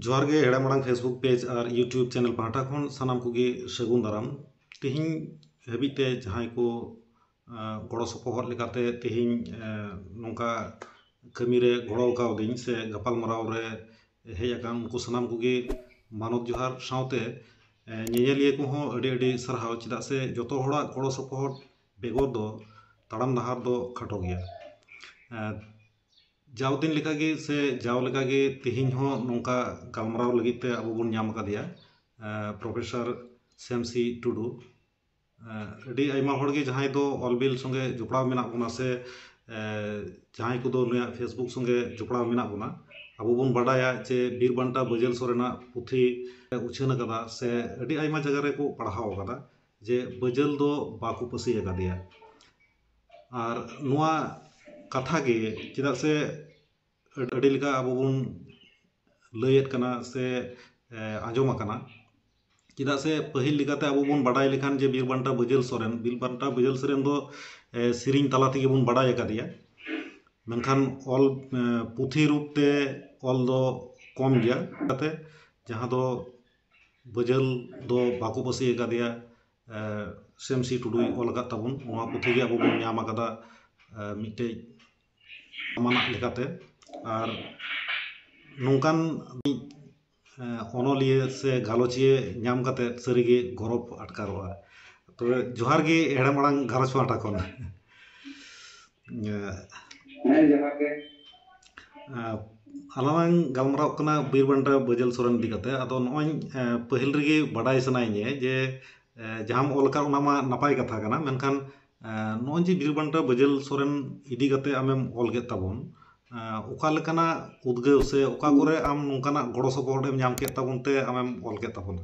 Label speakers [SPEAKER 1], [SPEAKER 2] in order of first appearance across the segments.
[SPEAKER 1] ᱡᱚᱦᱟᱨ ᱜᱮ ᱦᱮᱲᱮ ᱢᱟᱲᱟᱝ ᱯᱷᱮᱥᱵᱩᱠ ᱯᱮᱡᱽ ᱟᱨ ᱤᱭᱩᱴᱤᱭᱩᱵᱽ ᱪᱮᱱᱮᱞ ᱯᱟᱦᱴᱟ ᱠᱷᱚᱱ ᱥᱟᱱᱟᱢ ᱠᱚᱜᱮ ᱥᱟᱹᱜᱩᱱ ᱫᱟᱨᱟᱢ ᱛᱮᱦᱮᱧ ᱦᱟᱹᱵᱤᱡ ᱛᱮ ᱡᱟᱦᱟᱸᱭ ᱠᱚ ᱜᱚᱲᱚ ᱥᱚᱯᱚᱦᱚᱫ ᱞᱮᱠᱟᱛᱮ ᱛᱮᱦᱮᱧ ᱱᱚᱝᱠᱟ ᱠᱟᱹᱢᱤ ᱨᱮ ᱜᱚᱲᱚ ᱠᱟᱣᱫᱤᱧ ᱥᱮ ᱜᱟᱯᱟᱞ ᱢᱟᱨᱟᱣ ᱨᱮ ᱦᱮᱡ ᱟᱠᱟᱱ ᱩᱱᱠᱩ ᱥᱟᱱᱟᱢ ᱠᱚᱜᱮ ᱢᱟᱱᱚᱛ ᱡᱚᱦᱟᱨ ᱥᱟᱶᱛᱮ ᱧᱮᱧᱮᱞᱤᱭᱟᱹ ᱠᱚᱦᱚᱸ ᱟᱹᱰᱤ ᱟᱹᱰᱤ ᱥᱟᱨᱦᱟᱣ ᱪᱮᱫᱟᱜ ᱥᱮ ᱡᱚᱛᱚ ᱦᱚᱲᱟᱜ ᱜᱚᱲᱚ ᱥᱚᱯᱚᱦᱚᱫ ᱵᱮᱜᱚᱨ ᱫᱚ ᱛᱟᱲᱟᱢ ᱰᱟᱦᱟᱨ ᱫᱚ ᱠᱷᱟᱴᱚ ᱜᱮᱭᱟ ᱡᱟᱣ ᱫᱤᱱ ᱞᱮᱠᱟ ᱜᱮ ᱥᱮ ᱡᱟᱣ ᱞᱮᱠᱟ ᱜᱮ ᱛᱮᱦᱮᱧ ᱦᱚᱸ ᱱᱚᱝᱠᱟ ᱜᱟᱞᱢᱟᱨᱟᱣ ᱞᱟᱹᱜᱤᱫ ᱛᱮ ᱟᱵᱚ ᱵᱚᱱ ᱧᱟᱢ ᱟᱠᱟᱫᱮᱭᱟ ᱯᱨᱚᱯᱷᱮᱥᱟᱨ ᱥᱮᱢᱥᱤ ᱴᱩᱰᱩ ᱟᱹᱰᱤ ᱟᱭᱢᱟ ᱦᱚᱲ ᱜᱮ ᱡᱟᱦᱟᱸᱭ ᱫᱚ ᱚᱞ ᱵᱤᱞ ᱥᱚᱸᱜᱮ ᱡᱚᱯᱲᱟᱣ ᱢᱮᱱᱟᱜ ᱵᱚᱱᱟ ᱥᱮ ᱡᱟᱦᱟᱸᱭ ᱠᱚᱫᱚ ᱱᱩᱭᱟᱜ ᱯᱷᱮᱥᱵᱩᱠ ᱥᱚᱸᱜᱮ ᱡᱚᱯᱲᱟᱣ ᱢᱮᱱᱟᱜ ᱵᱚᱱᱟ ᱟᱵᱚ ᱵᱚᱱ ᱵᱟᱰᱟᱭᱟ ᱡᱮ ᱵᱤᱨ ᱵᱟᱱᱴᱟ ᱵᱟᱹᱡᱟᱹᱞ ᱥᱚᱨᱮᱱᱟᱜ ᱯᱩᱛᱷᱤ ᱩᱪᱷᱟᱹᱱ ᱟᱠᱟᱫᱟ ᱥᱮ ᱟᱹᱰᱤ ᱟᱭᱢᱟ ᱡᱟᱭᱜᱟ ᱨᱮᱠᱚ ᱯᱟᱲᱦᱟᱣ ᱟᱠᱟᱫᱟ ᱡᱮ ᱵᱟᱹᱡᱟᱹᱞ ᱫᱚ ᱵᱟᱠᱚ ᱯᱟᱹᱥᱤ ᱟᱠᱟᱫᱮᱭᱟ ᱟᱨ ᱱᱚᱣᱟ ᱠᱟᱛᱷᱟ ᱜᱮ ᱪᱮᱫᱟᱜ ᱥᱮ ᱟᱹᱰᱤ ᱞᱮᱠᱟ ᱟᱵᱚ ᱵᱚᱱ ᱞᱟᱹᱭᱮᱫ ᱠᱟᱱᱟ ᱥᱮ ᱟᱸᱡᱚᱢ ᱟᱠᱟᱱᱟ ᱪᱮᱫᱟᱜ ᱥᱮ ᱯᱟᱹᱦᱤᱞ ᱞᱮᱠᱟᱛᱮ ᱟᱵᱚ ᱵᱚᱱ ᱵᱟᱰᱟᱭ ᱞᱮᱠᱷᱟᱱ ᱡᱮ ᱵᱤᱨ ᱵᱟᱱᱴᱟ ᱵᱟᱹᱡᱟᱹᱞ ᱥᱚᱨᱮᱱ ᱵᱤᱨ ᱵᱟᱱᱴᱟ ᱵᱟᱹᱡᱟᱹᱞ ᱥᱚᱨᱮᱱ ᱫᱚ ᱥᱮᱨᱮᱧ ᱛᱟᱞᱟ ᱛᱮᱜᱮ ᱵᱚᱱ ᱵᱟᱰᱟᱭ ᱟᱠᱟᱫᱮᱭᱟ ᱢᱮᱱᱠᱷᱟᱱ ᱚᱞ ᱯᱩᱛᱷᱤ ᱨᱩᱯ ᱛᱮ ᱚᱞ ᱫᱚ ᱠᱚᱢ ᱜᱮᱭᱟ ᱚᱱᱟᱛᱮ ᱡᱟᱦᱟᱸ ᱫᱚ ᱵᱟᱹᱡᱟᱹᱞ ᱫᱚ ᱵᱟᱠᱚ ᱯᱟᱹᱥᱤ ᱟᱠᱟᱫᱮᱭᱟ ᱥᱮᱢ ᱥᱤ ᱴᱩᱰᱩᱭ ᱚᱞ ᱟᱠᱟᱫ ᱛᱟᱵᱚᱱ ᱱᱚᱣᱟ ᱯᱩᱛᱷᱤ ᱜᱮ ᱟᱵᱚ ᱵᱚᱱ ᱧᱟᱢ ᱟᱠᱟᱫᱟ ᱢᱤᱫᱴᱮᱱ ᱟᱢᱟᱱᱟᱜ ᱞᱮᱠᱟᱛᱮ ᱟᱨ ᱱᱚᱝᱠᱟᱱ ᱢᱤᱫ ᱚᱱᱚᱞᱤᱭᱟᱹ ᱥᱮ ᱜᱟᱞᱚᱪᱤᱭᱟᱹ ᱧᱟᱢ ᱠᱟᱛᱮᱫ ᱥᱟᱹᱨᱤ ᱜᱮ ᱜᱚᱨᱚᱵᱽ ᱟᱴᱠᱟᱨᱚᱜᱼᱟ ᱛᱚᱵᱮ ᱡᱚᱦᱟᱨ ᱜᱮ ᱦᱮᱲᱮᱢ ᱟᱲᱟᱝ ᱜᱷᱟᱨᱚᱸᱡᱽ ᱯᱟᱦᱴᱟ ᱠᱷᱚᱱ ᱟᱞᱟᱝᱞᱟᱝ ᱜᱟᱞᱢᱟᱨᱟᱣᱚᱜ ᱠᱟᱱᱟ ᱵᱤᱨ ᱵᱟᱱᱴᱟ ᱵᱟᱹᱡᱟᱹᱞ ᱥᱚᱨᱮᱱ ᱤᱫᱤ ᱠᱟᱛᱮ ᱟᱫᱚ ᱱᱚᱜᱼᱚᱭ ᱯᱟᱹᱦᱤᱞ ᱨᱮᱜᱮ ᱵᱟᱰᱟᱭ ᱥᱟᱱᱟᱭᱤᱧᱟᱹ ᱡᱮ ᱡᱟᱦᱟᱸᱢ ᱚᱞ ᱟᱠᱟᱫ ᱚᱱᱟ ᱢᱟ ᱱᱟᱯᱟᱭ ᱠᱟᱛᱷᱟ ᱠᱟᱱᱟ ᱢᱮᱱᱠᱷᱟᱱ ᱱᱚᱜᱼᱚᱭ ᱡᱮ ᱵᱤᱨ ᱵᱟᱱᱴᱟ ᱵᱟᱹᱡᱟᱹᱞ ᱥᱚᱨᱮᱱ ᱤᱫᱤ ᱠᱟᱛᱮ ᱟᱢᱮᱢ ᱚᱞ ᱠᱮᱫ ᱛᱟᱵᱚᱱ ᱚᱠᱟ ᱞᱮᱠᱟᱱᱟᱜ ᱩᱫᱽᱜᱟᱹᱣ ᱥᱮ ᱚᱠᱟ ᱠᱚᱨᱮ ᱟᱢ ᱱᱚᱝᱠᱟᱱᱟᱜ ᱜᱚᱲᱚ ᱥᱚᱯᱚᱦᱚᱫ ᱮᱢ ᱧᱟᱢ ᱠᱮᱫ ᱛᱟᱵᱚᱱ ᱛᱮ ᱟᱢᱮᱢ ᱚᱞ ᱠᱮᱫ ᱛᱟᱵᱚᱱᱟ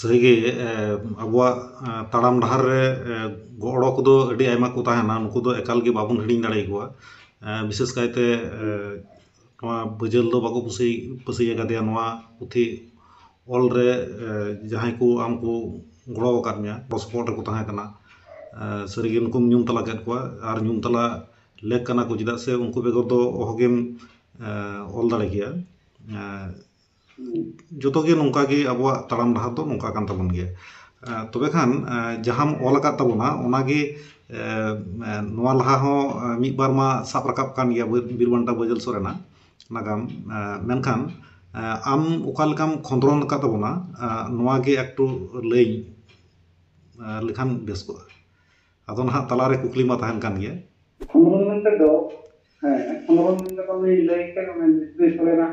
[SPEAKER 1] ᱥᱟᱹᱨᱤᱜᱮ ᱟᱵᱚᱣᱟᱜ ᱛᱟᱲᱟᱢ ᱰᱟᱦᱟᱨ ᱨᱮ ᱜᱚᱲᱚ ᱠᱚᱫᱚ ᱟᱹᱰᱤ ᱟᱭᱢᱟ ᱠᱚ ᱛᱟᱦᱮᱱᱟ ᱱᱩᱠᱩ ᱫᱚ ᱮᱠᱟᱞ ᱜᱮ ᱵᱟᱵᱚᱱ ᱦᱤᱲᱤᱧ ᱫᱟᱲᱮᱭᱟᱠᱚᱣᱟ ᱵᱤᱥᱮᱥ ᱠᱟᱭᱛᱮ ᱱᱚᱣᱟ ᱵᱟᱹᱡᱟᱹᱞ ᱫᱚ ᱵᱟᱠᱚ ᱯᱟᱹᱥᱤ ᱯᱟᱹᱥᱤᱭᱟᱠᱟᱫᱮᱭᱟ ᱱᱚᱣᱟ ᱯᱩᱛᱷᱤ ᱚᱞ ᱨᱮ ᱡᱟᱦᱟᱸᱭ ᱠᱚ ᱟᱢ ᱠᱚ ᱜᱚᱲᱚᱣᱟᱠᱟᱫ ᱢᱮᱭᱟ ᱜᱚᱲᱚ ᱥᱚᱯᱚᱦᱚᱫ ᱨᱮᱠᱚ ᱛᱟᱦᱮᱸ ᱠᱟᱱᱟ ᱥᱟᱹᱨᱤᱜᱮ ᱱᱩᱠᱩᱢ ᱧᱩᱢ ᱛᱟᱞᱟ ᱠᱮᱫ ᱠᱚᱣᱟ ᱟᱨ ᱧᱩᱢ ᱛᱟᱞᱟ ᱞᱮᱠ ᱠᱟᱱᱟ ᱠᱚ ᱪᱮᱫᱟᱜ ᱥᱮ ᱩᱱᱠᱩ ᱵᱮᱜᱚᱨ ᱫᱚ ᱚᱦᱚᱜᱮᱢ ᱚᱞ ᱫᱟᱲᱮ ᱠᱮᱭᱟ ᱡᱚᱛᱚ ᱜᱮ ᱱᱚᱝᱠᱟ ᱜᱮ ᱟᱵᱚᱣᱟᱜ ᱛᱟᱲᱟᱢ ᱰᱟᱦᱟᱨ ᱫᱚ ᱱᱚᱝᱠᱟ ᱠᱟᱱ ᱛᱟᱵᱚᱱ ᱜᱮᱭᱟ ᱛᱚᱵᱮ ᱠᱷᱟᱱ ᱡᱟᱦᱟᱸᱢ ᱚᱞ ᱟᱠᱟᱫ ᱛᱟᱵᱚᱱᱟ ᱚᱱᱟ ᱜᱮ ᱱᱚᱣᱟ ᱞᱟᱦᱟ ᱦᱚᱸ ᱢᱤᱫ ᱵᱟᱨ ᱢᱟ ᱥᱟᱵ ᱨᱟᱠᱟᱵ ᱟᱠᱟᱱ ᱜᱮᱭᱟ ᱵᱤᱨ ᱵᱟᱱᱴᱟ ᱵᱟᱹᱡᱟᱹᱞ ᱥᱚᱨᱮᱱᱟᱜ ᱱᱟᱜᱟᱢ ᱢᱮᱱᱠᱷᱟᱱ ᱟᱢ ᱚᱠᱟ ᱞᱮᱠᱟᱢ ᱠᱷᱚᱸᱫᱽᱨᱚᱱ ᱟᱠᱟᱫ ᱛᱟᱵᱚᱱᱟ ᱱᱚᱣᱟ ᱜᱮ ᱮᱠᱴᱩ ᱞᱟᱹᱭ ᱞᱮᱠᱷᱟᱱ ᱵᱮᱥ ᱠᱚᱜᱼᱟ ᱟᱫᱚ ᱱᱟᱦᱟᱜ ᱛᱟᱞᱟ ᱨᱮ ᱠᱩᱠᱞᱤ ᱢᱟ ᱛᱟᱦᱮᱱ ᱠᱟᱱ ᱜᱮᱭᱟ ᱠᱷᱚᱸᱫᱽᱨᱚᱱ ᱢᱮᱱᱛᱮ ᱫᱚ ᱦᱮᱸ
[SPEAKER 2] ᱠᱷᱚᱸᱫᱽᱨᱚᱱ ᱢᱮᱱᱛᱮ ᱫᱚ ᱩᱱᱤ ᱞᱟᱹᱭ ᱠᱮᱫ ᱚᱱᱮ ᱵᱤᱨ ᱥᱚᱨᱮᱱᱟᱜ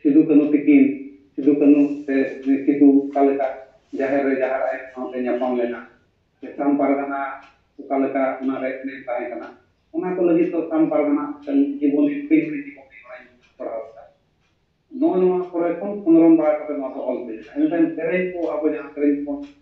[SPEAKER 2] ᱥᱤᱫᱩ ᱠᱟᱹᱱᱩ ᱛᱤᱠᱤᱱ ᱥᱤᱫᱩ ᱠᱟᱹᱱᱩ ᱥᱮ ᱩᱱᱤ ᱥᱤᱫᱩ ᱚᱠᱟ ᱞᱮᱠᱟ ᱡᱟᱦᱮᱨ ᱨᱮ ᱡᱟᱦᱟᱨ ᱟᱭᱳ ᱥᱟᱶᱛᱮ ᱧᱟᱯᱟᱢ ᱞᱮᱱᱟ ᱥᱮ ᱥᱟᱢ ᱯᱟᱨᱜᱟᱱᱟ ᱚᱠᱟ ᱞᱮᱠᱟ ᱚᱱᱟ ᱨᱮ ᱮᱱᱮᱢ ᱛᱟᱦᱮᱸ ᱠᱟᱱᱟ ᱚᱱᱟ ᱠᱚ ᱞᱟᱹᱜᱤᱫ ᱫᱚ ᱥᱟᱢ ᱯᱟᱨᱜᱟᱱᱟ ᱢᱤᱫᱴᱟᱝ ᱡᱤᱵᱚᱱᱤ ᱦᱩᱰᱤᱧ ᱦᱩᱰᱤᱧ ᱡᱤᱵᱚᱱᱤ ᱚᱱᱟᱧ ᱯᱟᱲᱦᱟᱣ ᱞᱮᱫᱟ ᱱᱚᱜᱼᱚ ᱱᱚᱣᱟ ᱠᱚᱨᱮ ᱠᱷᱚᱱ ᱠᱷᱚᱸᱫᱽᱨᱚᱱ ᱵᱟᱲᱟ ᱠᱟᱛᱮ ᱱᱚᱣᱟ ᱫᱚ ᱚᱞ ᱦᱩᱭ ᱞᱮᱱᱟ ᱤᱱᱟᱹ ᱛᱟᱭᱚᱢ ᱥᱮᱨᱮᱧ ᱠᱚ ᱟᱵᱚ ᱡᱟᱦᱟᱸ ᱥᱮᱨᱮᱧ ᱠᱚᱵᱚᱱ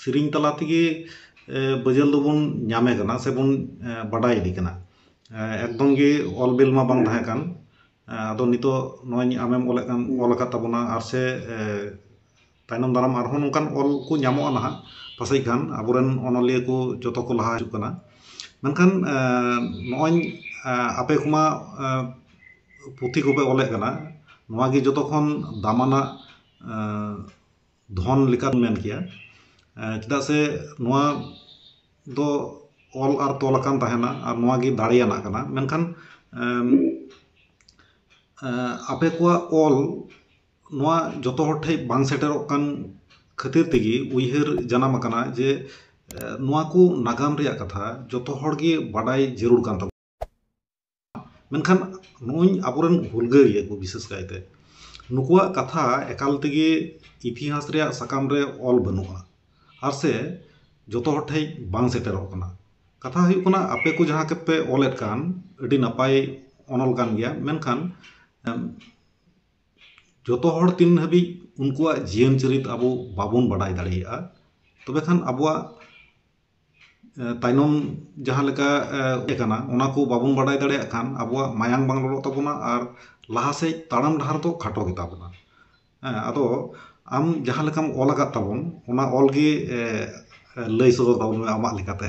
[SPEAKER 1] ᱥᱮᱨᱮᱧ ᱛᱟᱞᱟ ᱛᱮᱜᱮ ᱵᱟᱹᱡᱟᱹᱞ ᱫᱚᱵᱚᱱ ᱧᱟᱢᱮ ᱠᱟᱱᱟ ᱥᱮᱵᱚᱱ ᱵᱟᱰᱟᱭᱮᱫᱮ ᱠᱟᱱᱟ ᱮᱠᱫᱚᱢ ᱜᱮ ᱚᱞ ᱵᱤᱞ ᱢᱟ ᱵᱟᱝ ᱛᱟᱦᱮᱸ ᱠᱟᱱ ᱟᱫᱚ ᱱᱤᱛᱚᱜ ᱱᱚᱜᱼᱚᱭ ᱟᱢᱮᱢ ᱚᱞᱮᱫ ᱠᱟᱱ ᱚᱞ ᱟᱠᱟᱫ ᱛᱟᱵᱚᱱᱟ ᱟᱨ ᱥᱮ ᱛᱟᱭᱱᱚᱢ ᱫᱟᱨᱟᱢ ᱟᱨᱦᱚᱸ ᱱᱚᱝᱠᱟᱱ ᱚᱞ ᱠᱚ ᱧᱟᱢᱚᱜᱼᱟ ᱱᱟᱦᱟᱜ ᱯᱟᱥᱮᱡ ᱠᱷᱟᱱ ᱟᱵᱚ ᱨᱮᱱ ᱚᱱᱚᱞᱤᱭᱟᱹ ᱠᱚ ᱡᱚᱛᱚ ᱠᱚ ᱞᱟᱦᱟ ᱦᱤᱡᱩᱜ ᱠᱟᱱᱟ ᱢᱮᱱᱠᱷᱟᱱ ᱱᱚᱜᱼᱚᱭ ᱟᱯᱮ ᱠᱚᱢᱟ ᱯᱩᱛᱷᱤ ᱠᱚᱯᱮ ᱚᱞᱮᱫ ᱠᱟᱱᱟ ᱱᱚᱣᱟ ᱜᱮ ᱡᱚᱛᱚ ᱠᱷᱚᱱ ᱫᱟᱢᱟᱱᱟᱜ ᱫᱷᱚᱱ ᱞᱮᱠᱟᱢ ᱢᱮᱱ ᱠᱮᱭᱟ ᱪᱮᱫᱟᱜ ᱥᱮ ᱱᱚᱣᱟ ᱫᱚ ᱚᱞ ᱟᱨ ᱛᱚᱞ ᱟᱠᱟᱱ ᱛᱟᱦᱮᱱᱟ ᱟᱨ ᱱᱚᱣᱟ ᱜᱮ ᱫᱟᱲᱮᱭᱟᱱᱟᱜ ᱠᱟᱱᱟ ᱢᱮᱱᱠᱷᱟᱱ ᱟᱯᱮ ᱠᱚᱣᱟᱜ ᱚᱞ ᱱᱚᱣᱟ ᱡᱚᱛᱚ ᱦᱚᱲ ᱴᱷᱮᱱ ᱵᱟᱝ ᱥᱮᱴᱮᱨᱚᱜ ᱠᱟᱱ ᱠᱷᱟᱹᱛᱤᱨ ᱛᱮᱜᱮ ᱩᱭᱦᱟᱹᱨ ᱡᱟᱱᱟᱢ ᱟᱠᱟᱱᱟ ᱡᱮ ᱱᱚᱣᱟ ᱠᱚ ᱱᱟᱜᱟᱢ ᱨᱮᱭᱟᱜ ᱠᱟᱛᱷᱟ ᱡᱚᱛᱚ ᱦᱚᱲ ᱜᱮ ᱵᱟᱰᱟᱭ ᱡᱟᱹᱨᱩᱲ ᱠᱟᱱ ᱛᱟᱵᱚᱱᱟ ᱢᱮᱱᱠᱷᱟᱱ ᱱᱩᱜᱼᱩᱭ ᱟᱵᱚᱨᱮᱱ ᱦᱩᱞᱜᱟᱹᱨᱤᱭᱟᱹ ᱠᱚ ᱵᱤᱥᱮᱥ ᱠᱟᱭᱛᱮ ᱱᱩᱠᱩᱣᱟᱜ ᱠᱟᱛᱷᱟ ᱮᱠᱟᱞ ᱛᱮᱜᱮ ᱤᱛᱤᱦᱟᱥ ᱨᱮᱭᱟᱜ ᱥᱟᱠᱟᱢ ᱨᱮ ᱚᱞ ᱵᱟᱹᱱᱩᱜᱼᱟ ᱟᱨ ᱥᱮ ᱡᱚᱛᱚ ᱦᱚᱲ ᱴᱷᱮᱱ ᱵᱟᱝ ᱥᱮᱴᱮᱨᱚᱜ ᱠᱟᱱᱟ ᱠᱟᱛᱷᱟ ᱦᱩᱭᱩᱜ ᱠᱟᱱᱟ ᱟᱯᱮ ᱠᱚ ᱡᱟᱦᱟᱸ ᱠᱚᱯᱮ ᱚᱞᱮᱫ ᱠᱟᱱ ᱟᱹᱰᱤ ᱱᱟᱯᱟᱭ ᱚᱱᱚᱞ ᱠᱟᱱ ᱜᱮᱭᱟ ᱢᱮᱱᱠᱷᱟᱱ ᱡᱚᱛᱚ ᱦᱚᱲ ᱛᱤᱱ ᱦᱟᱹᱵᱤᱡ ᱩᱱᱠᱩᱣᱟᱜ ᱡᱤᱭᱚᱱ ᱪᱩᱨᱤᱛ ᱟᱵᱚ ᱵᱟᱵᱚᱱ ᱵᱟᱰᱟᱭ ᱫᱟᱲᱮᱭᱟᱜᱼᱟ ᱛᱚᱵᱮ ᱠᱷᱟᱱ ᱟᱵᱚᱣᱟᱜ ᱛᱟᱭᱱᱚᱢ ᱡᱟᱦᱟᱸ ᱞᱮᱠᱟ ᱦᱮᱡ ᱟᱠᱟᱱᱟ ᱚᱱᱟ ᱠᱚ ᱵᱟᱵᱚᱱ ᱵᱟᱰᱟᱭ ᱫᱟᱲᱮᱭᱟᱜ ᱠᱷᱟᱱ ᱟᱵᱚᱣᱟᱜ ᱢᱟᱭᱟᱢ ᱵᱟᱝ ᱞᱚᱞᱚᱜ ᱛᱟᱵᱚᱱᱟ ᱟᱨ ᱞᱟᱦᱟ ᱥᱮᱡ ᱛᱟᱲᱟᱢ ᱰᱟᱦᱟᱨ ᱫᱚ ᱠᱷᱟᱴᱚ ᱜᱮᱛᱟ ᱵᱚᱱᱟ ᱦᱮᱸ ᱟᱫᱚ ᱟᱢ ᱡᱟᱦᱟᱸ ᱞᱮᱠᱟᱢ ᱚᱞ ᱟᱠᱟᱫ ᱛᱟᱵᱚᱱ ᱚᱱᱟ ᱚᱞ ᱜᱮ ᱞᱟᱹᱭ ᱥᱚᱫᱚᱨ ᱛᱟᱵᱚᱱ ᱢᱮ ᱟᱢᱟᱜ ᱞᱮᱠᱟᱛᱮ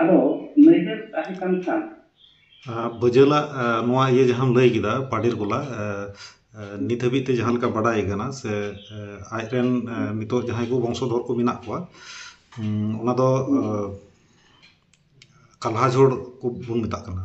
[SPEAKER 2] ᱟᱫᱚ ᱱᱟᱹᱭᱦᱟᱹᱨ ᱛᱟᱦᱮᱸ
[SPEAKER 1] ᱠᱟᱱ ᱠᱷᱟᱱ᱾ ᱵᱟᱹᱡᱟᱹᱞᱟᱜ ᱱᱚᱣᱟ ᱤᱭᱟᱹ ᱡᱟᱦᱟᱸᱢ ᱞᱟᱹᱭ ᱠᱮᱫᱟ ᱯᱟᱰᱮᱨ ᱠᱚᱞᱟ ᱱᱤᱛ ᱦᱟᱹᱵᱤᱡ ᱛᱮ ᱡᱟᱦᱟᱸ ᱞᱮᱠᱟ ᱵᱟᱰᱟᱭ ᱟᱠᱟᱱᱟ ᱥᱮ ᱟᱡ ᱨᱮᱱ ᱱᱤᱛᱚᱜ ᱡᱟᱦᱟᱸᱭ ᱠᱚ ᱵᱚᱝᱥᱚ ᱫᱷᱚᱨ ᱠᱚ ᱢᱮᱱᱟᱜ ᱠᱚᱣᱟ ᱚᱱᱟ ᱫᱚ ᱠᱟᱞᱦᱟᱡᱷᱳᱲ ᱠᱚ ᱵᱚᱱ ᱢᱮᱛᱟᱜ ᱠᱟᱱᱟ᱾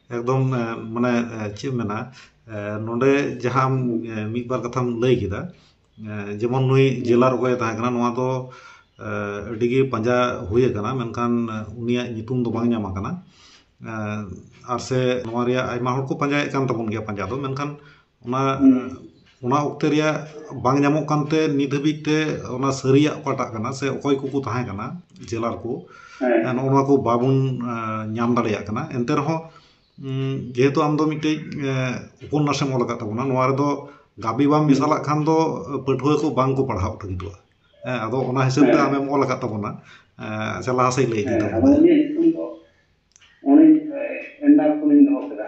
[SPEAKER 1] ᱮᱠᱫᱚᱢ ᱢᱟᱱᱮ ᱪᱮᱫ ᱮᱢ ᱢᱮᱱᱟ ᱱᱚᱰᱮ ᱡᱟᱦᱟᱸ ᱢᱤᱫ ᱵᱟᱨ ᱠᱟᱛᱷᱟᱢ ᱞᱟᱹᱭ ᱠᱮᱫᱟ ᱡᱮᱢᱚᱱ ᱱᱩᱭ ᱡᱮᱞᱟᱨ ᱚᱠᱚᱭᱮ ᱛᱟᱦᱮᱸ ᱠᱟᱱᱟ ᱱᱚᱣᱟ ᱫᱚ ᱟᱹᱰᱤ ᱜᱮ ᱯᱟᱸᱡᱟ ᱦᱩᱭ ᱟᱠᱟᱱᱟ ᱢᱮᱱᱠᱷᱟᱱ ᱩᱱᱤᱭᱟᱜ ᱧᱩᱛᱩᱢ ᱫᱚ ᱵᱟᱝ ᱧᱟᱢ ᱟᱠᱟᱱᱟ ᱟᱨ ᱥᱮ ᱱᱚᱣᱟ ᱨᱮᱭᱟᱜ ᱟᱭᱢᱟ ᱦᱚᱲ ᱠᱚ ᱯᱟᱸᱡᱟᱭᱮᱫ ᱠᱟᱱ ᱛᱟᱵᱚᱱ ᱜᱮᱭᱟ ᱯᱟᱸᱡᱟ ᱫᱚ ᱢᱮᱱᱠᱷᱟᱱ ᱚᱱᱟ ᱚᱱᱟ ᱚᱠᱛᱮ ᱨᱮᱭᱟᱜ ᱵᱟᱝ ᱧᱟᱢᱚᱜ ᱠᱟᱱᱛᱮ ᱱᱤᱛ ᱦᱟᱹᱵᱤᱡ ᱛᱮ ᱚᱱᱟ ᱥᱟᱹᱨᱤᱭᱟᱜ ᱚᱠᱟᱴᱟᱜ ᱠᱟᱱᱟ ᱥᱮ ᱚᱠᱚᱭ ᱠᱚᱠᱚ ᱛᱟᱦᱮᱸ ᱠᱟᱱᱟ ᱡᱮᱞᱟᱨ ᱠᱚ ᱦᱮᱸ ᱱᱚᱜᱼᱚ ᱱᱚᱣᱟ ᱠᱚ ᱵᱟᱵᱚᱱ ᱧᱟᱢ ᱫᱟᱲᱮᱭᱟᱜ ᱠᱟᱱᱟ ᱮᱱᱛᱮ ᱨᱮᱦᱚᱸ ᱡᱮᱦᱮᱛᱩ ᱟᱢ ᱫᱚ ᱢᱤᱫᱴᱤᱡ ᱩᱯᱚᱱᱱᱟᱥᱮᱢ ᱚᱞ ᱟᱠᱟᱫ ᱛᱟᱵᱚᱱᱟ ᱱᱚᱣᱟ ᱨᱮᱫᱚ ᱜᱟᱵᱮ ᱵᱟᱢ ᱢᱮᱥᱟᱞᱟᱜ ᱠᱷᱟᱱ ᱫᱚ ᱯᱟᱹᱴᱷᱩᱣᱟᱹ ᱠᱚ ᱵᱟᱝ ᱠᱚ ᱯᱟᱲᱦᱟᱣ ᱞᱟᱹᱜᱤᱫᱚᱜᱼᱟ ᱦᱮᱸ ᱟᱫᱚ ᱚᱱᱟ ᱦᱤᱥᱟᱹᱵ ᱛᱮ ᱟᱢᱮᱢ ᱚᱞ ᱟᱠᱟᱫ ᱛᱟᱵᱚᱱᱟ ᱟᱪᱪᱷᱟ ᱞᱟᱦᱟ ᱥᱮᱫ ᱞᱟᱹᱭ ᱤᱫᱤ ᱛᱟᱵᱚᱱ ᱢᱮ ᱦᱮᱸ ᱟᱫᱚ ᱤᱧᱟᱹᱜ ᱧᱩᱛᱩᱢ ᱫᱚ ᱚᱱᱮ ᱮᱱᱰᱟᱨ
[SPEAKER 2] ᱠᱷᱚᱱᱤᱧ ᱫᱚᱦᱚ ᱠᱮᱫᱟ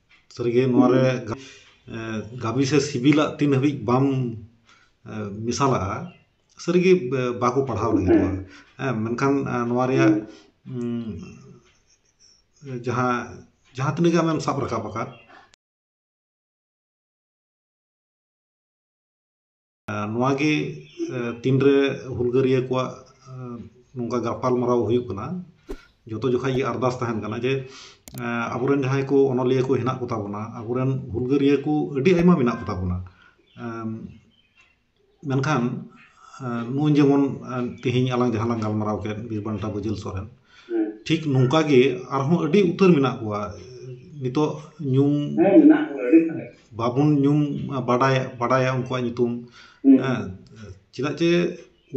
[SPEAKER 1] ᱥᱟᱹᱨᱤᱜᱮ ᱱᱚᱣᱟ ᱨᱮ ᱜᱟᱵᱮ ᱥᱮ ᱥᱤᱵᱤᱞᱟᱜ ᱛᱤᱱ ᱦᱟᱹᱵᱤᱡ ᱵᱟᱢ ᱢᱮᱥᱟᱞᱟᱜᱼᱟ ᱥᱟᱹᱨᱤᱜᱮ ᱵᱟᱠᱚ ᱯᱟᱲᱦᱟᱣ ᱞᱟᱹᱜᱤᱫᱚᱜᱼᱟ ᱦᱮᱸ ᱢᱮᱱᱠᱷᱟᱱ ᱱᱚᱣᱟ ᱨᱮᱭᱟᱜ ᱡᱟᱦᱟᱸ ᱡᱟᱦᱟᱸ ᱛᱤᱱᱟᱹᱜ ᱜᱮ ᱟᱢᱮᱢ ᱥᱟᱵ ᱨᱟᱠᱟᱵ ᱟᱠᱟᱫ ᱱᱚᱣᱟ ᱜᱮ ᱛᱤᱱ ᱨᱮ ᱦᱩᱞᱜᱟᱹᱨᱤᱭᱟᱹ ᱠᱚᱣᱟᱜ ᱱᱚᱝᱠᱟ ᱜᱟᱯᱟᱞ ᱢᱟᱨᱟᱣ ᱦᱩᱭᱩᱜ ᱠᱟᱱᱟ ᱡᱚᱛᱚ ᱡᱚᱠᱷᱟᱡ ᱜᱮ ᱟᱨᱫᱟᱥ ᱛᱟᱦᱮᱱ ᱠᱟᱱᱟ ᱡᱮ ᱟᱵᱚ ᱨᱮᱱ ᱡᱟᱦᱟᱸᱭ ᱠᱚ ᱚᱱᱚᱞᱤᱭᱟᱹ ᱠᱚ ᱦᱮᱱᱟᱜ ᱠᱚᱛᱟ ᱵᱚᱱᱟ ᱟᱵᱚ ᱨᱮᱱ ᱦᱩᱞᱜᱟᱹᱨᱤᱭᱟᱹ ᱠᱚ ᱟᱹᱰᱤ ᱟᱭᱢᱟ ᱢᱮᱱᱟᱜ ᱠᱚᱛᱟ ᱵᱚᱱᱟ ᱢᱮᱱᱠᱷᱟᱱ ᱱᱩᱭ ᱡᱮᱢᱚᱱ ᱛᱮᱦᱮᱧ ᱟᱞᱟᱝ ᱡᱟᱦᱟᱸ ᱞᱟᱝ ᱜᱟᱞᱢᱟᱨᱟᱣ ᱠᱮᱫ ᱵᱤᱨ ᱵᱟᱱᱴᱟ ᱵᱟᱹᱡᱩᱱ ᱥᱚᱨᱮᱱ ᱴᱷᱤᱠ ᱱᱚᱝᱠᱟ ᱜᱮ ᱟᱨᱦᱚᱸ ᱟᱹᱰᱤ ᱩᱛᱟᱹᱨ ᱢᱮᱱᱟᱜ ᱠᱚᱣᱟ ᱱᱤᱛᱚᱜ ᱧᱩᱢ ᱵᱟᱵᱚᱱ ᱧᱩᱢ ᱵᱟᱰᱟᱭ ᱵᱟᱰᱟᱭᱟ ᱩᱱᱠᱩᱣᱟᱜ ᱧᱩᱛᱩᱢ ᱦᱮᱸ ᱪᱮᱫᱟᱜ ᱪᱮ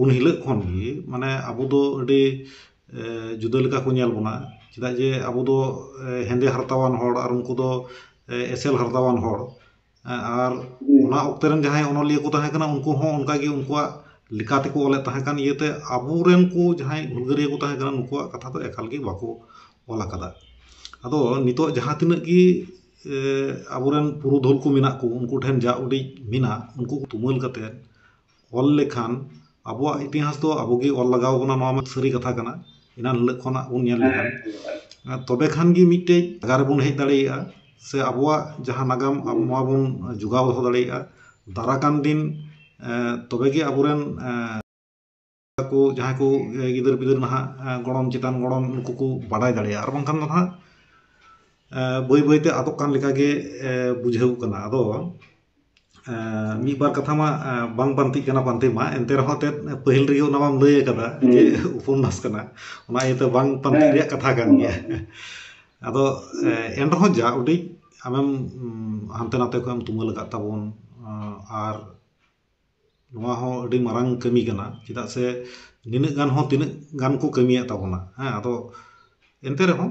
[SPEAKER 1] ᱩᱱ ᱦᱤᱞᱳᱜ ᱠᱷᱚᱱ ᱜᱮ ᱢᱟᱱᱮ ᱟᱵᱚ ᱫᱚ ᱟᱹᱰᱤ ᱡᱩᱫᱟᱹ ᱞᱮᱠᱟ ᱠᱚ ᱧᱮᱞ ᱵᱚᱱᱟ ᱪᱮᱫᱟᱜ ᱡᱮ ᱟᱵᱚ ᱫᱚ ᱦᱮᱸᱫᱮ ᱦᱟᱨᱛᱟᱣᱟᱱ ᱦᱚᱲ ᱟᱨ ᱩᱱᱠᱩ ᱫᱚ ᱮᱥᱮᱞ ᱦᱟᱨᱛᱟᱣᱟᱱ ᱦᱚᱲ ᱟᱨ ᱚᱱᱟ ᱚᱠᱛᱮ ᱨᱮᱱ ᱡᱟᱦᱟᱸᱭ ᱚᱱᱚᱞᱤᱭᱟᱹ ᱠᱚ ᱛᱟᱦᱮᱸ ᱠᱟᱱᱟ ᱩᱱᱠᱩ ᱦᱚᱸ ᱚᱱᱠᱟ ᱜᱮ ᱩᱱᱠᱩᱣᱟᱜ ᱞᱮᱠᱟ ᱛᱮᱠᱚ ᱚᱞᱮᱫ ᱛᱟᱦᱮᱸ ᱠᱟᱱ ᱤᱭᱟᱹᱛᱮ ᱟᱵᱚ ᱨᱮᱱ ᱠᱚ ᱡᱟᱦᱟᱸᱭ ᱦᱩᱞᱜᱟᱹᱨᱤᱭᱟᱹ ᱠᱚ ᱛᱟᱦᱮᱸ ᱠᱟᱱᱟ ᱱᱩᱠᱩᱣᱟᱜ ᱠᱟᱛᱷᱟ ᱫᱚ ᱮᱠᱟᱞ ᱜᱮ ᱵᱟᱠᱚ ᱚᱞ ᱟᱠᱟᱫᱟ ᱟᱫᱚ ᱱᱤᱛᱚᱜ ᱡᱟᱦᱟᱸ ᱛᱤᱱᱟᱹᱜ ᱜᱮ ᱟᱵᱚ ᱨᱮᱱ ᱯᱩᱨᱩᱫᱷᱩᱞ ᱠᱚ ᱢᱮᱱᱟᱜ ᱠᱚ ᱩᱱᱠᱩ ᱴᱷᱮᱱ ᱡᱟ ᱩᱰᱤᱡ ᱢᱮᱱᱟᱜ ᱩᱱᱠᱩ ᱠᱚ ᱛᱩᱢᱟᱹᱞ ᱠᱟᱛᱮᱫ ᱚᱞ ᱞᱮᱠᱷᱟᱱ ᱟᱵᱚᱣᱟᱜ ᱤᱛᱤᱦᱟᱥ ᱫᱚ ᱟᱵᱚ ᱜᱮ ᱚᱞ ᱞᱟᱜᱟᱣ ᱵᱚᱱᱟ ᱱᱚᱣᱟ ᱢᱟ ᱥᱟᱹᱨᱤ ᱠᱟᱛᱷᱟ ᱠᱟᱱᱟ ᱮᱱᱟᱱ ᱦᱤᱞᱳᱜ ᱠᱷᱚᱱᱟᱜ ᱵᱚᱱ ᱧᱮᱞ ᱞᱮᱠᱷᱟᱱ ᱛᱚᱵᱮ ᱠᱷᱟᱱ ᱜᱮ ᱢᱤᱫᱴᱮᱱ ᱡᱟᱭᱜᱟ ᱨᱮᱵᱚᱱ ᱦᱮᱡ ᱫᱟᱲᱮᱭᱟᱜᱼᱟ ᱥᱮ ᱟᱵᱚᱣᱟᱜ ᱡᱟᱦᱟᱸ ᱱᱟᱜᱟᱢ ᱟᱵᱚ ᱱᱚᱣᱟ ᱵᱚᱱ ᱡᱳᱜᱟᱣ ᱫᱚᱦᱚ ᱫᱟᱲᱮᱭᱟᱜᱼᱟ ᱫᱟᱨᱟᱭ ᱠᱟᱱ ᱫᱤᱱ ᱛᱚᱵᱮ ᱜᱮ ᱟᱵᱚ ᱨᱮᱱ ᱠᱚ ᱡᱟᱦᱟᱸᱭ ᱠᱚ ᱜᱤᱫᱟᱹᱨ ᱯᱤᱫᱟᱹᱨ ᱱᱟᱦᱟᱜ ᱜᱚᱲᱚᱢ ᱪᱮᱛᱟᱱ ᱜᱚᱲᱚᱢ ᱩᱱᱠᱩ ᱠᱚ ᱵᱟᱰᱟᱭ ᱫᱟᱲᱮᱭᱟᱜᱼᱟ ᱟᱨ ᱵᱟᱝᱠᱷᱟᱱ ᱫᱚ ᱱᱟᱦᱟᱜ ᱵᱟᱹᱭ ᱵᱟᱹᱭ ᱛᱮ ᱟᱫᱚᱜ ᱠᱟᱱ ᱞᱮᱠᱟ ᱜᱮ ᱵᱩᱡᱷᱟᱹᱣ ᱠᱟᱱᱟ ᱟᱫᱚ ᱢᱤᱫ ᱵᱟᱨ ᱠᱟᱛᱷᱟ ᱢᱟ ᱵᱟᱝ ᱯᱟᱱᱛᱮᱜ ᱠᱟᱱᱟ ᱯᱟᱱᱛᱮ ᱢᱟ ᱮᱱᱛᱮ ᱨᱮᱦᱚᱸ ᱮᱱᱛᱮᱫ ᱯᱟᱹᱦᱤᱞ ᱨᱮᱜᱮ ᱚᱱᱟ ᱢᱟᱢ ᱞᱟᱹᱭ ᱟᱠᱟᱫᱟ ᱡᱮ ᱩᱯᱚᱱᱱᱟᱥ ᱠᱟᱱᱟ ᱚᱱᱟ ᱤᱭᱟᱹᱛᱮ ᱵᱟᱝ ᱯᱟᱱᱛᱮ ᱨᱮᱭᱟᱜ ᱠᱟᱛᱷᱟ ᱠᱟᱱ ᱜᱮᱭᱟ ᱟᱫᱚ ᱮᱱ ᱨᱮᱦᱚᱸ ᱡᱟ ᱩᱰᱤᱡ ᱟᱢᱮᱢ ᱦᱟᱱᱛᱮ ᱱᱟᱛᱮ ᱠᱷᱚᱱᱮᱢ ᱛᱩᱢᱟᱹᱞ ᱟᱠᱟᱫ ᱛᱟᱵᱚᱱ ᱟᱨ ᱱᱚᱣᱟ ᱦᱚᱸ ᱟᱹᱰᱤ ᱢᱟᱨᱟᱝ ᱠᱟᱹᱢᱤ ᱠᱟᱱᱟ ᱪᱮᱫᱟᱜ ᱥᱮ ᱱᱤᱱᱟᱹᱜ ᱜᱟᱱ ᱦᱚᱸ ᱛᱤᱱᱟᱹᱜ ᱜᱟᱱ ᱠᱚ ᱠᱟᱹᱢᱤᱭᱮᱫ ᱛᱟᱵᱚᱱᱟ ᱦᱮᱸ ᱟᱫᱚ ᱮᱱᱛᱮ ᱨᱮᱦᱚᱸ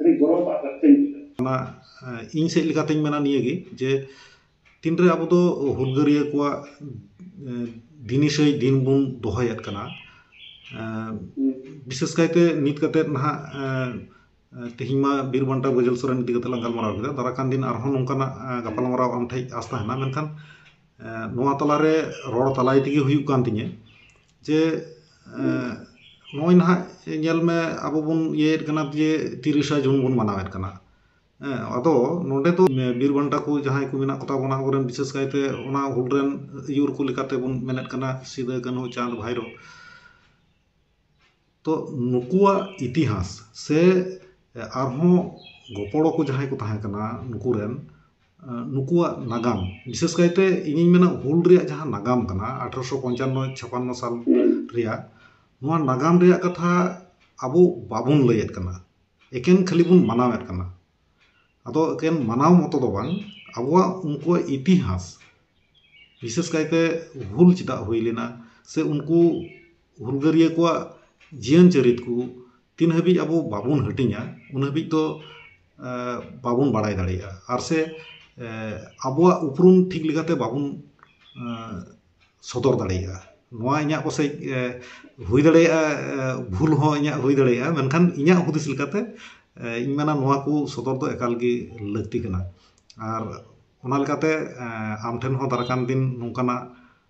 [SPEAKER 2] ᱟᱹᱰᱤ ᱜᱚᱨᱚᱵᱽ ᱟᱜ ᱠᱟᱛᱷᱟᱧ ᱵᱩᱡᱷᱟᱹᱣᱟ
[SPEAKER 1] ᱚᱱᱟ ᱤᱧ ᱥᱮᱫ ᱞᱮᱠᱟᱛᱮᱧ ᱢᱮᱱᱟ ᱱᱤᱭᱟᱹᱜᱮ ᱡᱮ ᱛᱤᱱᱨᱮ ᱟᱵᱚ ᱫᱚ ᱦᱩᱞᱜᱟᱹᱨᱭᱟᱹ ᱠᱚᱣᱟᱜ ᱫᱤᱱᱤᱥᱟᱹᱭ ᱫᱤᱱ ᱵᱚᱱ ᱫᱚᱦᱚᱭᱮᱫ ᱠᱟᱱᱟ ᱵᱤᱥᱮᱥ ᱠᱟᱭᱛᱮ ᱱᱤᱛ ᱠᱟᱛᱮᱫ ᱱᱟᱦᱟᱜ ᱛᱮᱦᱮᱧ ᱢᱟ ᱵᱤᱨ ᱵᱟᱱᱴᱟ ᱵᱟᱹᱡᱟᱹᱞ ᱥᱚᱨᱮᱱ ᱤᱫᱤ ᱠᱟᱛᱮ ᱞᱟᱝ ᱜᱟᱞᱢᱟᱨᱟᱣ ᱠᱮᱫᱟ ᱫᱟᱨᱟ ᱠᱟᱱ ᱫᱤᱱ ᱟᱨᱦᱚᱸ ᱱᱚᱝᱠᱟᱱᱟᱜ ᱜᱟᱯᱟᱞᱢᱟᱨᱟᱣ ᱟᱢ ᱴᱷᱮᱡ ᱟᱥ ᱛᱟᱦᱮᱱᱟ ᱢᱮᱱᱠᱷᱟᱱ ᱱᱚᱣᱟ ᱛᱟᱞᱟᱨᱮ ᱨᱚᱲ ᱛᱟᱞᱟᱭ ᱛᱮᱜᱮ ᱦᱩᱭᱩᱜ ᱠᱟᱱ ᱛᱤᱧᱟᱹ ᱡᱮ ᱱᱚᱜᱼᱚᱭ ᱱᱟᱦᱟᱜ ᱧᱮᱞ ᱢᱮ ᱟᱵᱚ ᱵᱚᱱ ᱤᱭᱟᱹᱭᱮᱫ ᱠᱟᱱᱟ ᱡᱮ ᱛᱤᱨᱤᱥᱟ ᱡᱩᱱ ᱵᱚᱱ ᱢᱟᱱᱟᱣᱮᱫ ᱠᱟᱱᱟ ᱦᱮᱸ ᱟᱫᱚ ᱱᱚᱸᱰᱮ ᱫᱚ ᱵᱤᱨ ᱵᱟᱱᱴᱟ ᱠᱚ ᱡᱟᱦᱟᱸᱭ ᱠᱚ ᱢᱮᱱᱟᱜ ᱠᱚᱛᱟ ᱵᱚᱱᱟ ᱟᱵᱚ ᱨᱮᱱ ᱵᱤᱥᱮᱥ ᱠᱟᱭᱛᱮ ᱚᱱᱟ ᱦᱩᱞ ᱨᱮᱱ ᱟᱹᱭᱩᱨ ᱠᱚ ᱞᱮᱠᱟᱛᱮ ᱵᱚᱱ ᱢᱮᱱᱮᱫ ᱠᱟᱱᱟ ᱥᱤᱫᱩ ᱠᱟᱹᱱᱦᱩ ᱪᱟᱸᱫᱽ ᱵᱷᱟᱭᱨᱳ ᱛᱚ ᱱᱩᱠᱩᱣᱟᱜ ᱤᱛᱤᱦᱟᱥ ᱥᱮ ᱟᱨᱦᱚᱸ ᱜᱚᱯᱚᱲᱚ ᱠᱚ ᱡᱟᱦᱟᱸᱭ ᱠᱚ ᱛᱟᱦᱮᱸ ᱠᱟᱱᱟ ᱱᱩᱠᱩ ᱨᱮᱱ ᱱᱩᱠᱩᱣᱟᱜ ᱱᱟᱜᱟᱢ ᱵᱤᱥᱮᱥ ᱠᱟᱭᱛᱮ ᱤᱧᱤᱧ ᱢᱮᱱᱟ ᱦᱩᱞ ᱨᱮᱭᱟᱜ ᱡᱟᱦᱟᱸ ᱱᱟᱜᱟᱢ ᱠᱟᱱᱟ ᱟᱴᱷᱨᱚᱥᱚ ᱯᱚᱧᱪᱟᱱᱱᱚ ᱪᱷᱟᱯᱟᱱᱱᱚ ᱥᱟᱞ ᱨᱮᱭᱟᱜ ᱱᱚᱣᱟ ᱱᱟᱜᱟᱢ ᱨᱮᱭᱟᱜ ᱠᱟᱛᱷᱟ ᱟᱵᱚ ᱵᱟᱵᱚᱱ ᱞᱟᱹᱭᱮᱫ ᱠᱟᱱᱟ ᱮᱠᱮᱱ ᱠᱷᱟᱹᱞᱤ ᱵᱚᱱ ᱢᱟᱱᱟᱣᱮᱫ ᱠᱟᱱᱟ ᱟᱫᱚ ᱮᱠᱮᱱ ᱢᱟᱱᱟᱣ ᱢᱚᱛᱚ ᱫᱚ ᱵᱟᱝ ᱟᱵᱚᱣᱟᱜ ᱩᱱᱠᱩᱣᱟᱜ ᱤᱛᱤᱦᱟᱥ ᱵᱤᱥᱮᱥ ᱠᱟᱭᱛᱮ ᱦᱩᱞ ᱪᱮᱫᱟᱜ ᱦᱩᱭ ᱞᱮᱱᱟ ᱥᱮ ᱩᱱᱠᱩ ᱦᱩᱞᱜᱟᱹᱨᱭᱟᱹ ᱠᱚᱣᱟᱜ ᱡᱤᱭᱚᱱ ᱪᱚᱨᱤᱛ ᱠᱚ ᱛᱤᱱ ᱦᱟᱹᱵᱤᱡ ᱟᱵᱚ ᱵᱟᱵᱚᱱ ᱦᱟᱹᱴᱤᱧᱟ ᱩᱱ ᱦᱟᱹᱵᱤᱡ ᱫᱚ ᱵᱟᱵᱚᱱ ᱵᱟᱲᱟᱭ ᱫᱟᱲᱮᱭᱟᱜᱼᱟ ᱟᱨ ᱥᱮ ᱟᱵᱚᱣᱟᱜ ᱩᱯᱨᱩᱢ ᱴᱷᱤᱠ ᱞᱮᱠᱟᱛᱮ ᱵᱟᱵᱚᱱ ᱥᱚᱫᱚᱨ ᱫᱟᱲᱮᱭᱟᱜᱼᱟ ᱱᱚᱣᱟ ᱤᱧᱟᱹᱜ ᱯᱟᱥᱮᱡ ᱦᱩᱭ ᱫᱟᱲᱮᱭᱟᱜᱼᱟ ᱵᱷᱩᱞ ᱦᱚᱸ ᱤᱧᱟᱹᱜ ᱦᱩᱭ ᱫᱟᱲᱮᱭᱟᱜᱼᱟ ᱢᱮᱱᱠᱷᱟᱱ ᱤᱧᱟᱹᱜ ᱦᱩᱫᱤᱥ ᱞᱮᱠᱟᱛᱮ ᱤᱧ ᱢᱮᱱᱟ ᱱᱚᱣᱟ ᱠᱚ ᱥᱚᱫᱚᱨ ᱫᱚ ᱮᱠᱟᱞ ᱜᱮ ᱞᱟᱹᱠᱛᱤ ᱠᱟᱱᱟ ᱟᱨ ᱚᱱᱟ ᱞᱮᱠᱟᱛᱮ ᱟᱢ ᱴᱷᱮᱱ ᱦᱚᱸ ᱫᱟᱨᱟᱭ ᱠᱟᱱ ᱫᱤᱱ ᱱᱚᱝᱠᱟᱱᱟᱜ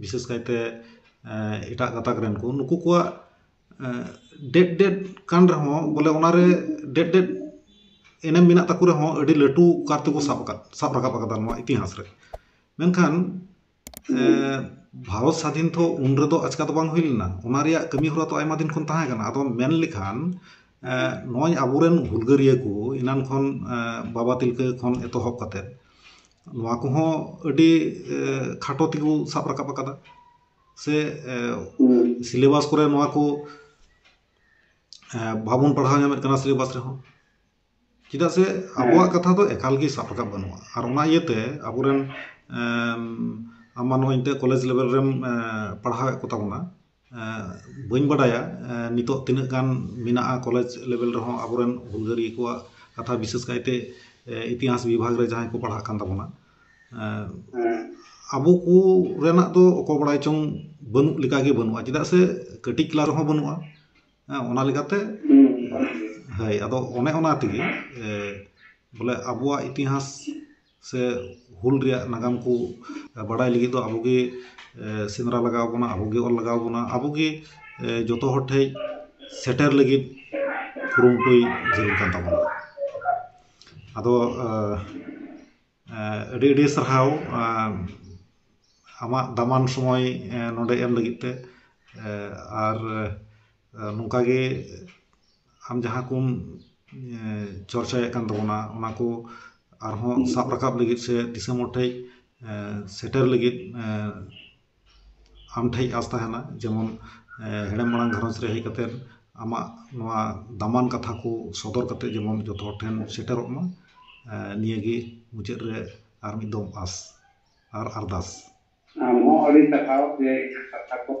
[SPEAKER 1] ᱵᱤᱥᱮᱥ ᱠᱟᱭᱛᱮ ᱮᱴᱟᱜ ᱜᱟᱛᱟᱠ ᱨᱮᱱ ᱠᱚ ᱱᱩᱠᱩ ᱠᱚᱣᱟᱜ ᱰᱮᱴ ᱰᱮᱴ ᱠᱟᱱ ᱨᱮᱦᱚᱸ ᱵᱚᱞᱮ ᱚᱱᱟᱨᱮ ᱰᱮᱴ ᱰᱮᱴ ᱮᱱᱮᱢ ᱢᱮᱱᱟᱜ ᱛᱟᱠᱚ ᱨᱮᱦᱚᱸ ᱟᱹᱰᱤ ᱞᱟᱹᱴᱩ ᱠᱟᱨ ᱛᱮᱠᱚ ᱥᱟᱵ ᱟᱠᱟᱫ ᱥᱟᱵ ᱨᱟᱠᱟᱵ ᱟᱠᱟᱫᱟ ᱱᱚᱣᱟ ᱤᱛᱤᱦᱟᱥ ᱨᱮ ᱢᱮᱱᱠᱷᱟᱱ ᱵᱷᱟᱨᱚᱛ ᱥᱟᱫᱷᱤᱱ ᱛᱚ ᱩᱱ ᱨᱮᱫᱚ ᱟᱪᱠᱟ ᱫᱚ ᱵᱟᱝ ᱦᱩᱭ ᱞᱮᱱᱟ ᱚᱱᱟ ᱨᱮᱭᱟᱜ ᱠᱟᱹᱢᱤ ᱦᱚᱨᱟ ᱛᱚ ᱟᱭᱢᱟ ᱫᱤᱱ ᱠᱷᱚᱱ ᱛᱟᱦᱮᱸ ᱠᱟᱱᱟ ᱟᱫᱚ ᱢᱮᱱ ᱞᱮᱠᱷᱟᱱ ᱱᱚᱜᱼᱚᱭ ᱟᱵᱚᱨᱮᱱ ᱦᱩᱞᱜᱟᱹᱨᱤᱭᱟᱹ ᱠᱚ ᱮᱱᱟᱱ ᱠᱷᱚᱱ ᱵᱟᱵᱟ ᱛᱤᱞᱠᱟᱹ ᱠᱷᱚᱱ ᱮᱛᱚᱦᱚᱵ ᱠᱟᱛᱮᱫ ᱱᱚᱣᱟ ᱠᱚᱦᱚᱸ ᱟᱹᱰᱤ ᱠᱷᱟᱴᱚ ᱛᱮᱠᱚ ᱥᱟᱵ ᱨᱟᱠᱟᱵ ᱟᱠᱟᱫᱟ ᱥᱮ ᱥᱤᱞᱮᱵᱟᱥ ᱠᱚᱨᱮ ᱱᱚᱣᱟ ᱠᱚ ᱵᱟᱵᱚᱱ ᱯᱟᱲᱦᱟᱣ ᱧᱟᱢᱮᱫ ᱠᱟᱱᱟ ᱥᱤᱞᱮᱵᱟᱥ ᱨᱮᱦᱚᱸ ᱪᱮᱫᱟᱜ ᱥᱮ ᱟᱵᱚᱣᱟᱜ ᱠᱟᱛᱷᱟ ᱫᱚ ᱮᱠᱟᱞ ᱜᱮ ᱥᱟᱵ ᱨᱟᱠᱟᱵ ᱵᱟᱹᱱᱩᱜᱼᱟ ᱟᱨ ᱚᱱᱟ ᱤᱭᱟᱹᱛᱮ ᱟᱵᱚ ᱨᱮᱱ ᱟᱢ ᱢᱟ ᱱᱚᱜᱼᱚᱭ ᱱᱤᱛᱚᱜ ᱠᱚᱞᱮᱡᱽ ᱞᱮᱵᱮᱞ ᱨᱮᱢ ᱯᱟᱲᱦᱟᱣᱮᱫ ᱠᱚᱛᱟ ᱵᱚᱱᱟ ᱵᱟᱹᱧ ᱵᱟᱰᱟᱭᱟ ᱱᱤᱛᱚᱜ ᱛᱤᱱᱟᱹᱜ ᱜᱟᱱ ᱢᱮᱱᱟᱜᱼᱟ ᱠᱚᱞᱮᱡᱽ ᱞᱮᱵᱮᱞ ᱨᱮᱦᱚᱸ ᱟᱵᱚᱨᱮᱱ ᱦᱩᱞᱜᱟᱹᱨᱤᱭᱟᱹ ᱠᱚᱣᱟᱜ ᱠᱟᱛᱷᱟ ᱵᱤᱥᱮᱥ ᱠᱟᱭᱛᱮ ᱤᱛᱤᱦᱟᱥ ᱵᱤᱵᱷᱟᱜᱽ ᱨᱮ ᱡᱟᱦᱟᱸᱭ ᱠᱚ ᱯᱟᱲᱦᱟᱜ ᱠᱟᱱ ᱛᱟᱵᱚᱱᱟ ᱟᱵᱚ ᱠᱚ ᱨᱮᱱᱟᱜ ᱫᱚ ᱚᱠᱚᱭ ᱵᱟᱲᱟᱭ ᱪᱚᱝ ᱵᱟᱹᱱᱩᱜ ᱞᱮᱠᱟᱜᱮ ᱵᱟᱹᱱᱩᱜᱼᱟ ᱪᱮᱫᱟᱜ ᱥᱮ ᱠᱟᱹᱴᱤᱡ ᱠᱞᱟᱥ ᱨᱮᱦᱚᱸ ᱵᱟᱹᱱᱩᱜᱼᱟ ᱦᱮᱸ ᱚᱱᱟ ᱞᱮᱠᱟᱛᱮ ᱦᱳᱭ ᱟᱫᱚ ᱚᱱᱮ ᱚᱱᱟ ᱛᱮᱜᱮ ᱵᱚᱞᱮ ᱟᱵᱚᱣᱟᱜ ᱤᱛᱤᱦᱟᱥ ᱥᱮ ᱦᱩᱞ ᱨᱮᱭᱟᱜ ᱱᱟᱜᱟᱢ ᱠᱚ ᱵᱟᱰᱟᱭ ᱞᱟᱹᱜᱤᱫ ᱫᱚ ᱟᱵᱚ ᱜᱮ ᱥᱮᱸᱫᱽᱨᱟ ᱞᱟᱜᱟᱣ ᱵᱚᱱᱟ ᱟᱵᱚ ᱜᱮ ᱚᱞ ᱞᱟᱜᱟᱣ ᱵᱚᱱᱟ ᱟᱵᱚ ᱜᱮ ᱡᱚᱛᱚ ᱦᱚᱲ ᱴᱷᱮᱱ ᱥᱮᱴᱮᱨ ᱞᱟᱹᱜᱤᱫ ᱠᱩᱨᱩᱢᱩᱴᱩᱭ ᱡᱟᱹᱨᱩᱲ ᱠᱟᱱ ᱛᱟᱵᱚᱱᱟ ᱟᱫᱚ ᱟᱹᱰᱤ ᱟᱹᱰᱤ ᱥᱟᱨᱦᱟᱣ ᱟᱢᱟᱜ ᱫᱟᱢᱟᱱ ᱥᱚᱢᱚᱭ ᱱᱚᱰᱮ ᱮᱢ ᱞᱟᱹᱜᱤᱫ ᱛᱮ ᱟᱨ ᱱᱚᱝᱠᱟ ᱜᱮ ᱟᱢ ᱡᱟᱦᱟᱸ ᱠᱚᱢ ᱪᱚᱨᱪᱟᱭᱮᱫ ᱠᱟᱱ ᱛᱟᱵᱚᱱᱟ ᱚᱱᱟ ᱠᱚ ᱟᱨᱦᱚᱸ ᱥᱟᱵ ᱨᱟᱠᱟᱵ ᱞᱟᱹᱜᱤᱫ ᱥᱮ ᱫᱤᱥᱚᱢ ᱦᱚᱲ ᱴᱷᱮᱱ ᱥᱮᱴᱮᱨ ᱞᱟᱹᱜᱤᱫ ᱟᱢ ᱴᱷᱮᱱ ᱟᱥ ᱛᱟᱦᱮᱱᱟ ᱡᱮᱢᱚᱱ ᱦᱮᱲᱮᱢ ᱢᱟᱲᱟᱝ ᱜᱷᱟᱨᱚᱸᱡᱽ ᱨᱮ ᱦᱮᱡ ᱠᱟᱛᱮᱫ ᱟᱢᱟᱜ ᱱᱚᱣᱟ ᱫᱟᱢᱟᱱ ᱠᱟᱛᱷᱟ ᱠᱚ ᱥᱚᱫᱚᱨ ᱠᱟᱛᱮᱫ ᱡᱮᱢᱚᱱ ᱡᱚᱛᱚ ᱦᱚᱲ ᱴᱷᱮᱱ ᱥᱮᱴᱮᱨᱚᱜ ᱢᱟ ᱱᱤᱭᱟᱹ ᱜᱮ ᱢᱩᱪᱟᱹᱫ ᱨᱮ ᱟᱨ ᱢᱤᱫ ᱫᱚᱢ ᱟᱥ ᱟᱨ ᱟᱨᱫᱟᱥ ᱟᱢ ᱦᱚᱸ
[SPEAKER 2] ᱟᱹᱰᱤ ᱥᱟᱨᱦᱟᱣ ᱡᱮ ᱤᱧᱟᱹᱜ ᱠᱟᱛᱷᱟ ᱠᱚᱢ